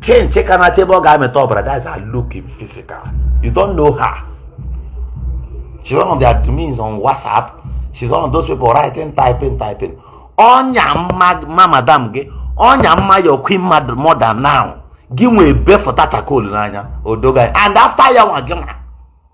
chinchi ka na-achọ ebe ọ ga-amịta ọbara that's her look in physical you don't know her she's one of the admins on whatsapp she's one of those people writing typing typing ọnya mma mma madam gị ọnya mma your queen mad- mother now gị nwee befụta chakol n'anya odoga and after ya nwa gị nwa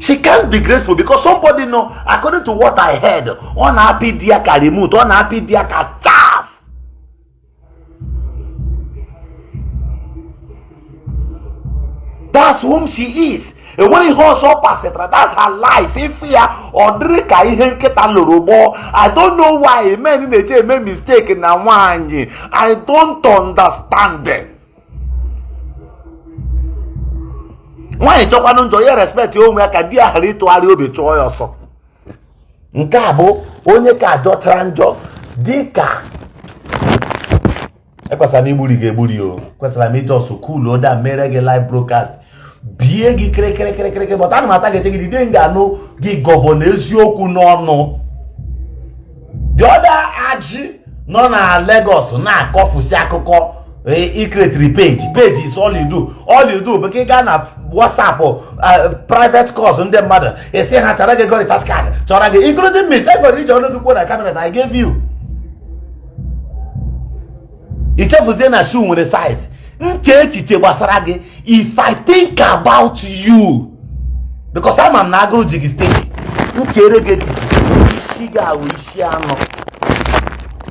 she can't be grateful because somebody know according to what i heard ọ na-apị di ya ka remote ọ na-apị di ya ka chaff that's whom she is enweghị ihe ọzọ ọ pasịtara that's her life ife ya ọ dịrị ka ihe nkịta loro gbọọ i don't know why men na-eje eme mistake na nwaanyị i don't understand them. nwaanyị jọkwanụ njọ ya respekt onwe ya ka di ya ghara ịtụgharị obi chụọ ya ọsọ nke a bụ onye ka ajọtara njọ dị ka ekwesịrị m igburi gị egburi o kwesịrị m i just cool down mere gị live broadcast bie gị kịrịkịrịkịrịkịrị but ana m a-target gị the day m ga-anụ gị gọvanọ eziokwu n'ọnụ the other ajị nọ na Lagos na-akọfusi akụkọ ị kretiri e, page page is all you do all you do bụ ka ị gaa na WhatsApp uh, private calls ndị mmadụ esi ha chara gị gori tax card chọrọ gị including me egoro iji ọnụ gị kwuo na camera that I gave you ichefuzie na shoe nwere size m chee echiche gbasara gị if i think about you because ama m na agụrụ ji gị steady m cheere gị echiche isi gị ahụ isi anọ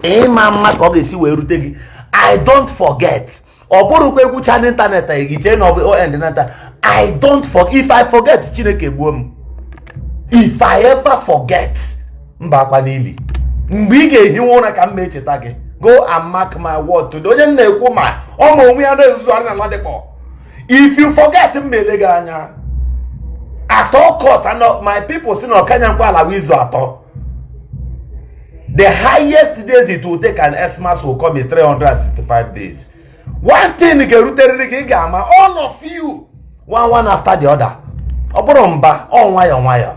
ị ma ama ka ọ ga-esi wee rute gị i don't forget ọ bụrụkwa ekwucha n'ịntanetị anyị gị chee na ọ bụ on nata i don't forget if i forget chineke gbuo m if i ever forget m bakwa n'ili mgbe ị ga-ehiwe ụra ka m na-echeta gị go and mark my word today onye m na-ekwu ma ọ ma onwe ya na-ezuzuarị na Ladipo if you forget m ele gị anya at all cost and my people si na ọkanya nkwa ala izu atọ the highest days it will take an Xmas will come is 365 days one thing ga-eruterịrị gị ị ga-ama all of you one one after the other ọ bụrọ mba ọ nwayọọ nwayọọ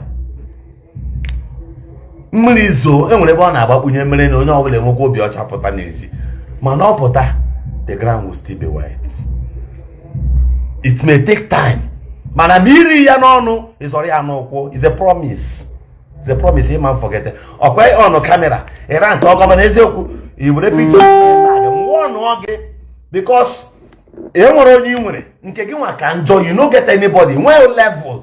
mmiri zoo enwere ebe ọ na-agbakpunye mere na onye ọbụla enwekwa obi ọcha pụta n'ezi mana ọ pụta the ground will still be wet it may take time mana ma iri ya n'ọnụ ị zọrọ ya n'ụkwụ it's a promise it's a promise ị ma forget ọkwa on kamera ịra nke gọvanọ eziokwu iwere pikchọ nwụọ nụọ gị because enweghị onye ị nwere nke gị nwa ka njọ you no get anybody nwee level